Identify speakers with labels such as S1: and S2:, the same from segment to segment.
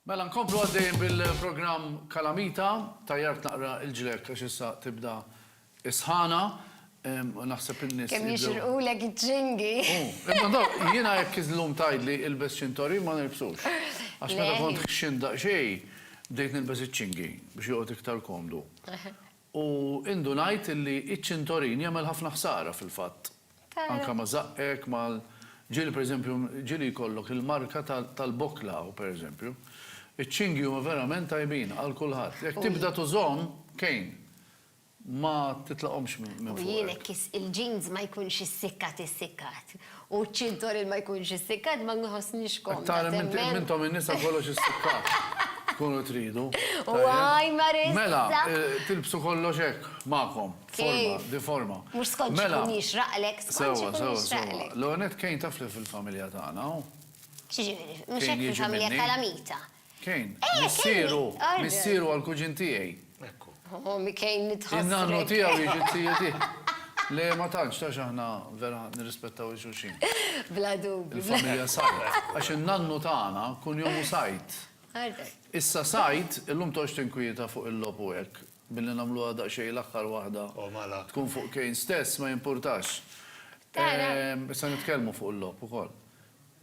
S1: Mela nkomplu għaddejjin bil-programm Kalamita. Tajjart naqra l-ġlekk għax issa tibda s-sħana. Naħseb in-nies. Kemm jixirqulek iċ-ċingi. Imma dawk, jiena jekk illum tgħidli ilbes ċintorin ma nilbsux. Għax meta kont ħxint daqsxejn, bdejt nilbes iċ-ċingi biex joqgħod iktar komdu. U indunajt illi iċ-ċintorin jagħmel ħafna ħsara fil-fatt. Anke ma' żaqqek, ma' ġieli pereżempju, ġieli jkollok il-marka tal-bokla hawn pereżempju. Iċ-ċingi huma verament tajbin għal kulħadd. Jekk tibda tużhom, Kane, ma titlaqhomx minn fuqek. U jien hekk il-jeans ma jkunx issikkat issikkat. U ċ-ċintor il ma jkunx istikkat ma nħossnix komda hemmhekk. Tara intom in-nisa kollox istikkat tkunu tridu. U għaj mar issa. Mela, tilbsu kollox hekk magħkom. Forma, bi forma. Mhux skont x'ikun jixraqlek, skont x'ikun jixraqlek. Sewa, sewa, sewa. L-ewwel nett Kane taf li fil-familja tagħna hu. X'jiġifieri? Mhux hekk fil-familja tal-Amita. Kejn, missieru, missieru għall-kuġin tiegħi. Ekku. Oh, mi kejn nitħassrek. In-nannu tiegħu jiġi t-tiju tiegħi. Le, ma tantx, tax aħna vera nirrispettaw il-xulxin. Bla dubju. Il-familja Sajd. Għax in-nannu tagħna kun jomu Sajd. Għartek. Issa Sajd, illum toqgħodx tinkwieta fuq il-logħob u hekk, billi nagħmluha daqsxejn l-aħħar waħda. Oh, mala. Tkun fuq Kejn stess, ma jimpurtax. Tara. Issa nitkellmu fuq il-logħob ukoll.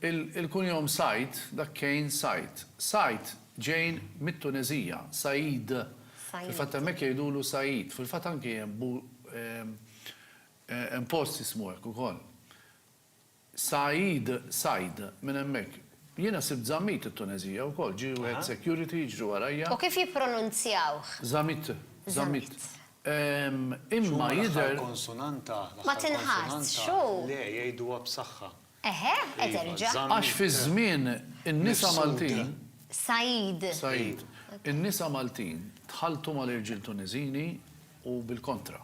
S1: Il-kunjom Said, dak Kane Said. Said ġejn mit-Tuneżija, Said, fil-fatt hemmhekk jgħidulu Said, fil-fatt anki hemm post jismu hekk ukoll. Said, Said, minn hemmhekk. Jiena sibt Zammit it-Tuneżija wkoll, ġie wieħed security jiġri warajja. U kif jippronunzjawh? Zammit, Zammit. Imma jidher. X'huma l-aħħar konsonanta? Ma tinħassx, hu. Le, jgħiduha b'saħħa. Eħe, qed erġa'. Għax fiż-żmien in-nisa Maltin. Said. Said. In-nisa Maltin tħalltu mal-irġiel Tuniżini u bil-kontra.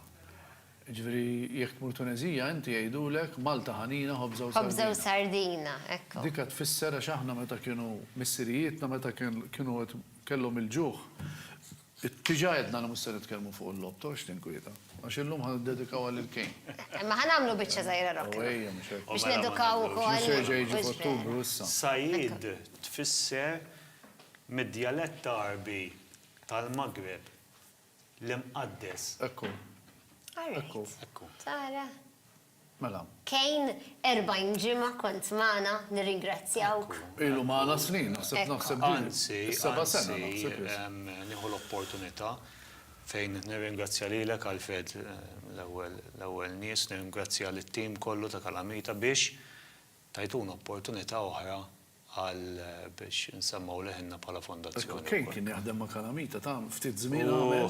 S1: Jiġifieri jekk tmur Tuneżija inti jgħidulek Malta ħanina ħobża u sardina. Ħobża u sardina, hekk. Dik qed tfisser għax aħna meta kienu missirijietna meta kienu qed kellhom il-ġuħ Diġà għedna li mhux se nitkellmu fuq il-logħob, torox tinkwieta, għax illum ħa niddedikawha lil Kane. Imma ħa nagħmlu biċċa żgħira rock. Ejja, mhux hekk. Biex nedukaw ukoll. Mhux se jerġa' jiġi f'Ottubru issa. Said tfisser mid-djalett Għarbi tal-Maghreb, l-imqaddes. Ekku. All right. Ekku. Tara. Mela. Kane, 40 ġimgħa kont magħna, nirringrazzjawk. Ilu magħna snin, naħseb, naħseb din. Anzi, seba' sena naħseb issa. Anzi, nieħu l-opportunità fejn nirringrazzja lilek Alfred l-ewwel, l-ewwel nies, nirringrazzja lit-tim kollu ta' Kalamita biex tajtuna opportunità oħra, għal biex insemmgħu leħinna bħala fondazzjoni wkoll. Ekk kejn kien jaħdem ma' Calamita ta' ftit żmien għamel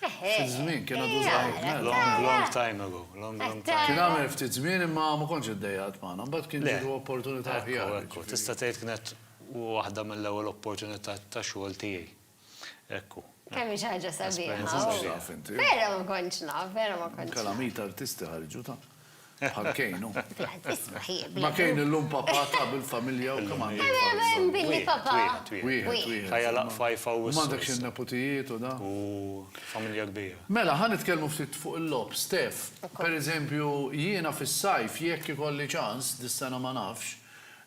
S1: ftit żmien kien għadu żgħir mela. Long long time ago long long time ago. Kien għamel ftit żmien imma ma kontx iddejjaq qatt magħna imbagħad kien ġietu opportunità aħjar. Ekku ekku tista' tgħid kienet waħda mill-ewwel opportunità ta' xogħol tiegħi. Hekk hu. Kemm hi xi ħaġa sabiħa. Vera ma kontx naf, vera ma kontx naf. Kalamit artisti ħarġu ta'. Bħal Kane hu. Isma' hi. Ma' Kane illum papà ta' bil-familja u kemm għandu. Kemm hemm billi papà. Wieħed, wieħed. Ħajja laqgħa f'Haifa u. U m'għandekx in-neputijiet u da. U familja kbira. Mela, ħa nitkellmu ftit fuq il-logħob. Steph, pereżempju, jiena fis-sajf jekk ikolli ċans, dis-sena ma nafx,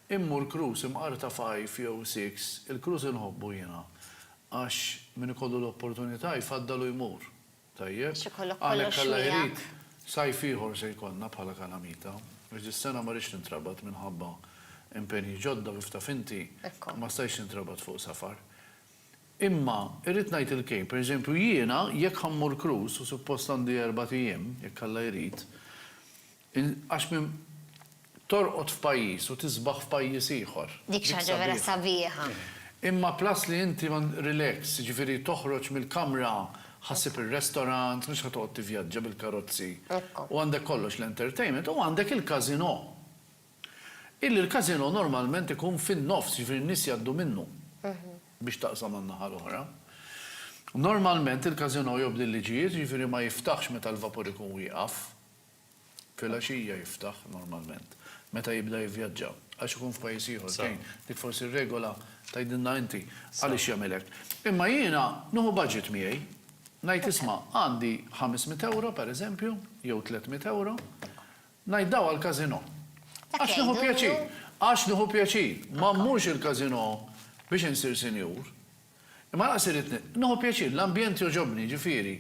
S1: Immur Cruz imqar ta' five jew six, il-Cruz inħobbu jiena. Għax min ikollu l-opportunità jfaddal u jmur. Tajjeb? Għax ikollok kollox miegħek. Għalhekk Alla jrid, sajf ieħor se jkollna bħala Kalamita. Għax dis-sena ma rridx nintrabat minħabba impenji ġodda u kif taf inti, ma stajtx nintrabat fuq safar. Imma irrid ngħid il-kejl, per eżempju jiena jekk ħa mmur Cruz u suppost għandi erbat ijiem, jekk Alla jrid, Għax minn torqod f'pajjiż u tisbaħ f'pajjiż ieħor. Dik xi ħaġa vera sabiħa. Imma plus li inti on relax, jiġifieri toħroġ mill-kamra, ħassib ir-restaurant, mhux ħa toqgħod tivvjaġġa bil-karozzi. U għandek kollox l-entertainment u għandek il-casino. Illi l-casino normalment ikun fin-nofs, jiġifieri n-nies jgħaddu minnu biex taqsam għan-naħa l-oħra. Normalment il-casino jobdi l-liġijiet, jiġifieri ma jiftaħx meta l-vapur ikun wieqaf. Filgħaxija jiftaħ normalment meta jibda jivvjaġġa għax ikun f'pajjiż ieħor fejn dik forsi r-regola tgħidilna inti għaliex jagħmel hekk. Imma jiena nieħu budget miegħi, ngħid isma' għandi ħames mitt ewro pereżempju jew tliet mitt ewro, ngħid daw għall-casino. Għax nieħu pjaċir. Għax nieħu pjaċir. Ma mmurx il-casino biex insir sinjur. Imma lanqas irrid nieħu pjaċir, l-ambjent jogħġobni, jiġifieri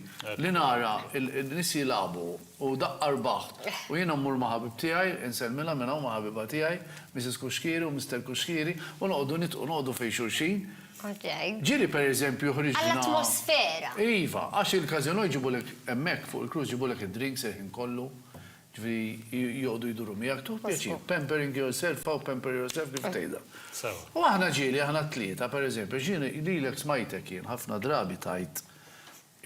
S1: li nara n-nies jilagħbu u daqqa rbaħ u jiena mmur ma' ħabib tiegħi, insellmilha minn hawn ma' ħabiba tiegħi, Missis Cuschieri u Mister Cuschieri, u noqogħdu nidħqu, noqogħdu fejn xulxin. Ġieli pereżempju ħriġna. Għall-atmosfera. Iva, għax il-każinò jġibulek hemmhekk fuq il-cruise jġibulek id-drinks il-ħin kollu. Jiġifieri joqogħdu jduru miegħek, tuħ pjaċir. Pampering yourself aw pamper yourself, kif tgħidha. Sewa. U aħna ġieli, aħna t-tlieta, per eżempju, għax jien lilek smajtek jien ħafna drabi tgħid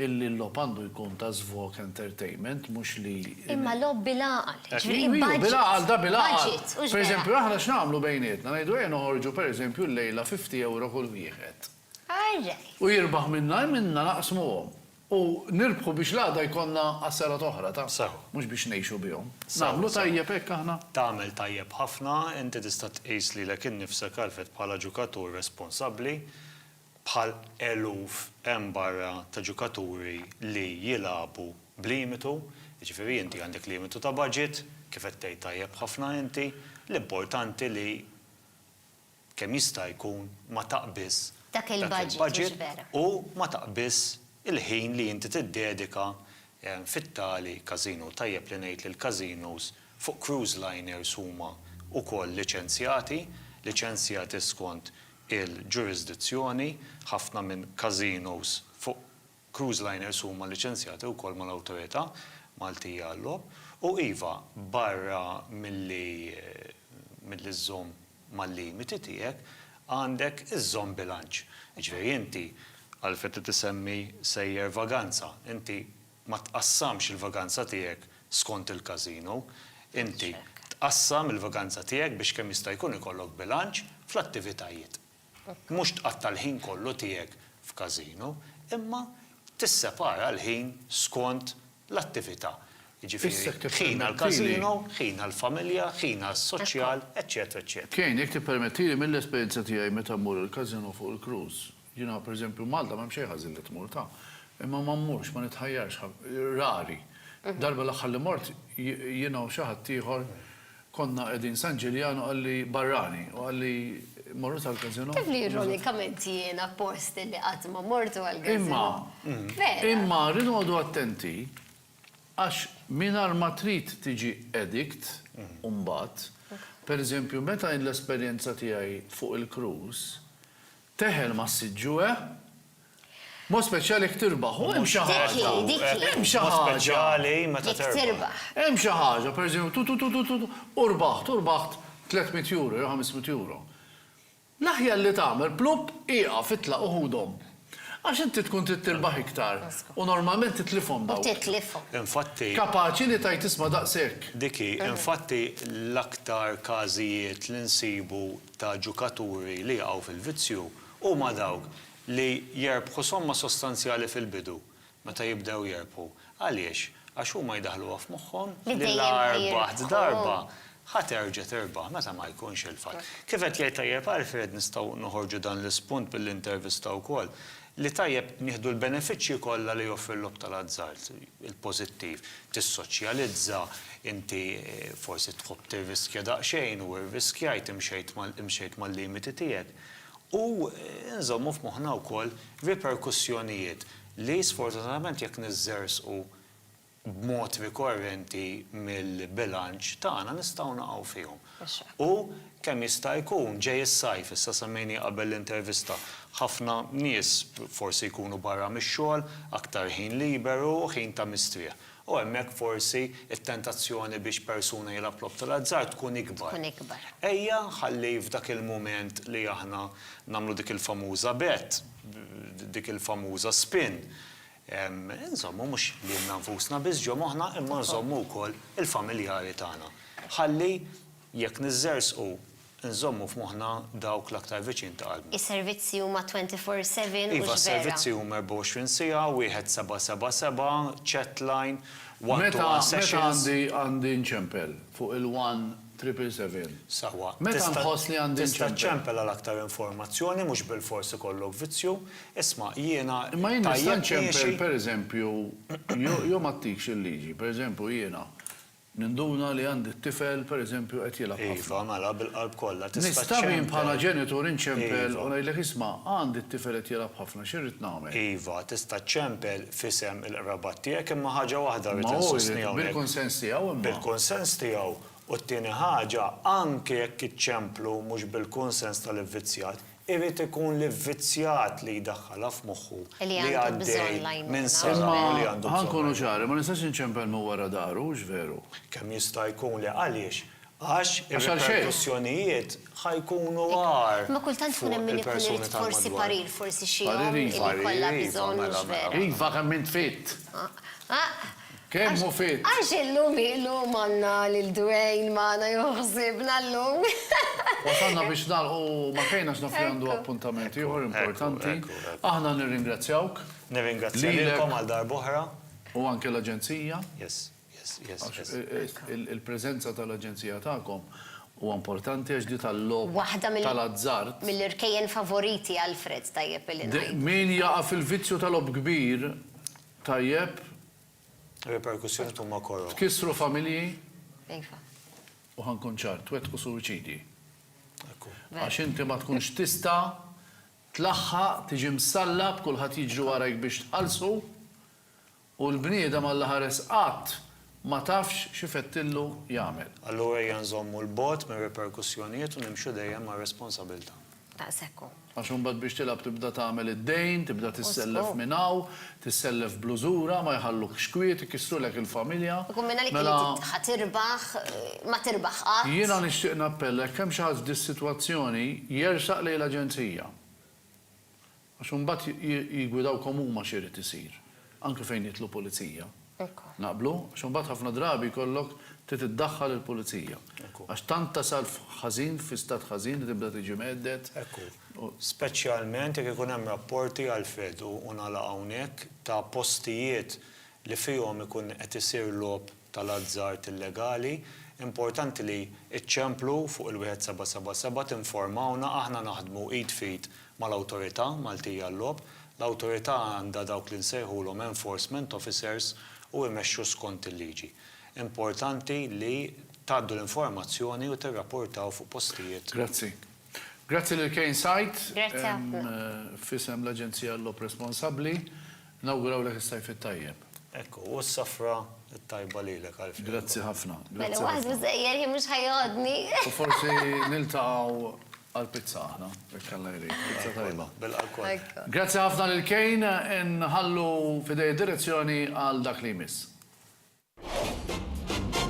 S1: illi l-logħob għandu jkun ta' żvog, entertainment, mhux li. Imma logħob bil-għaqal, jiġifieri budget. Iva, bil-għaqal, da bil-għaqal. Budget, hux bil-għaqal. Per eżempju, aħna x'nagħmlu bejnietna, ngħidu ejja noħorġu per eżempju llejla fifty ewro kull wieħed. U jirbaħ minna hi minna naqsmuhom. U nirbħu biex l-għada jkollna għas-sena t'oħra ta'. Sew. Mhux biex ngħixu bihom. Sew, sew. Nagħmlu tajjeb hekk aħna? Tagħmel tajjeb ħafna. Inti tista' tqis lilek innifsek, Alfred, bħala ġukatur responsabbli, bħal eluf hemm barra ta' ġukaturi li jilagħbu b'limitu, jiġifieri inti għandek limitu ta' baġit, kif qed tgħid tajjeb ħafna inti, l-importanti li. kemm jista' jkun ma taqbiżx Dak il-budget, mhux dak il-budget vera. u ma taqbiżx il-ħin li inti tiddedika fit-tali casino. Tajjeb li ngħid li l-casinos fuq cruise liners huma wkoll liċenzjati, liċenzjati skont il-ġurisdizzjoni, ħafna minn casinos fuq Cruise liners huma liċenzjati wkoll mal-Awtorità Maltija għal-Logħob u iva, barra milli milli żżomm mal-limiti tiegħek, għandek iżżomm bilanċ. Jiġifieri inti għalfejn qed isemmi sejjer vaganza, inti ma tqassamx il-vaganza tiegħek skont il-casino, inti tqassam il-vaganza tiegħek biex kemm jista' jkun ikollok bilanċ fl-attivitajiet. Mhux tqatta' l-ħin kollu tiegħek f'każino, imma tissepara l-ħin skont l-attività, jiġifieri ħin għall-każino, ħin għall-familja, ħin għas-soċjal, eċċetera eċċetera. Kane, Jekk tippermettili, mill-esperjenza tiegħi meta mmur il-każino fuq il-cruise, jiena pereżempju Malta m'hemm xejn ħażin li tmur, ta. Imma ma mmurx, ma nitħajjarx, rari. Darba l-aħħar li mort jiena u xi ħaddieħor, Konna qegħdin San Ġiljan u qalli barrani u qalli morru tal-Casino. Taf li ironikament jiena post li qatt ma mortu għall-Casino. Imma, imma rridu noqogħdu attenti għax mingħajr ma trid tiġi addict mbagħad, pereżempju meta jien l-esperjenza tiegħi fuq il-cruise, teħel mas-siġġu eh, B'mod speċjali jekk tirbaħ. U hemm xi ħaġa. Hemm xi ħaġa. Jekk tirbaħ. Hemm xi ħaġa, pereżempju, tu tu tu tu u rbaħt, u rbaħt 300 euro jew 500 euro. L-aħjar li tagħmel, plupp, ieqaf, itlaq u ħudhom. Għax inti tkun trid tirbaħ iktar u normalment titlifhom dawk. U titlifhom. Infatti. Kapaċi li tgħid isma' daqshekk. Dik hi. Infatti l-aktar każijiet li nsibu ta' ġukaturi li jaqgħu fil-vizzju huma dawk li jerbħu somma sostanzjali fil-bidu, meta jibdew jerbħu. Għaliex? Għax huma jdaħħluha f'moħħhom li la rbaħt darba, ħa terġa' tirbaħ meta ma jkunx il-fatt. Kif qed jgħid tajjeb Alfred, nistgħu noħorġu dan l-ispunt mill-intervista wkoll, li tajjeb nieħdu l-benefiċċji kollha li joffri l-logħob tal-azzard, il-pożittiv, tissoċjalizza, inti forsi tħobb tirriskja daqsxejn u rriskjajt, imxejt mal-limiti tiegħek. U nżommu f'moħħna wkoll riperkussjonijiet li sfortunatament jekk niżżerżqu b'mod rikorrenti mill-bilanċ tagħna nistgħu naqgħu fihom. U kemm jista' jkun, ġej is-sajf, issa semmejni qabel l-intervista, ħafna nies forsi jkunu barra mix-xogħol, aktar ħin liberu, ħin ta' mistrieħ. U hemmhekk forsi t-tentazzjoni biex persuna jilgħab logħob tal-azzard tkun ikbar. Tkun ikbar. Ejja nħalli f'dak il-mument li aħna nagħmlu dik il-famuża bet, dik il-famuża spin, inżommu mhux lilna nfusna biss ġo moħħna imma nżommu wkoll il-familjari tagħna. Ħalli jekk niżżerżqu, Nżommu f'moħħna dawk l-aktar viċin ta' qalbna. Is-servizzi huma 24 seven, hux vera? Iva, s-servizzi huma 24 siegħa, wieħed seba' seba' seba', chat line, one to one sessions. Meta, meta għandi nċempel fuq il-one triple seven? Sewwa. Meta nħoss li għandi nċempel? Tista' ċċempel għal aktar informazzjoni, mhux bilfors ikollok vizzju. Isma', jiena tajjeb miexi. Imma jien nista' nċempel, pereżempju, jew ma ttikx il-liġi, pereżempju jiena Ninduna li għandi t-tifel, per eżempju, qed jilgħab ħafna. Iva, mela, bil-qalb kollha, tista' ċċempel. Nista' min bħala ġenitur inċempel u ngħidlek isma', għandi t-tifel qed jilgħab ħafna, x'irrid nagħmel? Iva, tista' ċċempel f'isem il-qrabat tiegħek imma ħaġa waħda rrid insostni hawnhekk. Imma hu jrid, bil-kunsens tiegħu imma. Bil-kunsens tiegħu, u t-tieni ħaġa, anke jekk iċċemplu mhux bil-kunsens tal-ivvizzjat, Irid ikun li vvizzjat li jdaħħalha f'moħħu li għaddej minn sara u li għandu bżonn l-għajnuna. Imma, ħa nkunu ċari, ma nistax inċempel minn wara dahru, hux veru? Kemm jista' jkun le. Għaliex? Għax ir-riperkussjonijiet ħa jkunu agħar fuq il-persuni tal-madwar. Imma kultant ikun hemm min ikun irid forsi parir, forsi xi omm li jkollha bżonn, hux veru? Parir iva, mela. Iva, kemm int fitt! Kemm hu fit! Għax illum illum għandna lil Dwayne magħna jieħu ħsiebna llum. Wasalna biex nagħlqu ma' fejn għax naf li għandu appuntament ieħor importanti. Aħna nirringrazzjawk. Nirringrazzja lilkom għal darb'oħra. U anke l-Aġenzija. Yes, yes, yes, yes. Għax il-preżenza tal-Aġenzija tagħkom huwa importanti għax di tal-logħob tal-azzard. Waħda mill-irkejjen favoriti Alfred tajjeb illi ngħidu. Min jaqa' fil-vizzju tal-logħob kbir. Tajjeb. Ir-riperkussjonijiet huma koroh. Tkissru familji. Iva. U ħa nkun ċar, twettqu suwiċidji. Ekku. Għax inti ma tkunx tista' tlaħħaq tiġi msallab, kulħadd jiġri warajk biex tqallsu, u l-bniedem Alla ħares qatt ma tafx x'ifettillu jagħmel. Allura ejja nżommu 'l bogħod mir-riperkussjonijiet u nimxu dejjem mar-responsabilità. Daqshekk hu. Għax imbagħad biex tilgħab tibda tagħmel id-dejn, tibda tissellef minn hawn, tissellef bl-użura, ma jħallukx kwiet, ikissrulek il-familja. Ikun minn għalik li inti ħa tirbaħ, ma tirbaħ qatt. Jiena nixtieq nappella jekk hemm xi ħadd f'dis-sitwazzjoni jersaq lejn l-Aġenzija. Għax imbagħad jiggwidawkom huma x'irid isir, anke fejn jidħlu pulizija. Naqblu? Għax imbagħad ħafna drabi jkollok trid iddaħħal il-pulizija. Għax tant tasal ħażin, fi stat ħażin li tibda tiġi mhedded. Speċjalment jekk ikun hemm rapporti, Alfred, u nagħlaq hawnhekk, ta' postijiet li fihom ikun qed isir logħob tal-azzard illegali, importanti li ċ-ċemplu fuq il-1777 tinformawna, aħna naħdmu id f'id mal-Awtorità Maltija għal-Logħob, l-Awtorità għandha dawk li nsejħulhom enforcement officers u imexxu skont il-liġi. Importanti li tgħaddu l-informazzjoni u tirrapportaw fuq postijiet. Grazzi. Grazzi lil Kane Site. Grazzi ħafna. F'isem l-Aġenzija għall-Logħob Responsabbli, nawgurawlek is-Sajf it-Tajjeb. Hekk hu, u s-Safra t-Tajba lilek, Alfie. Grazzi ħafna. Mela hu ħasbu sejjer jien mhux ħa jgħoddni. U forsi niltaqgħu għall-pizza aħna, jekk Alla jrid. Pizza tajba. Bilqa' lkoll. Hekk hu. Grazzi ħafna lil Kane. Inħallu f'idejh id-direzzjoni għal dak li jmiss.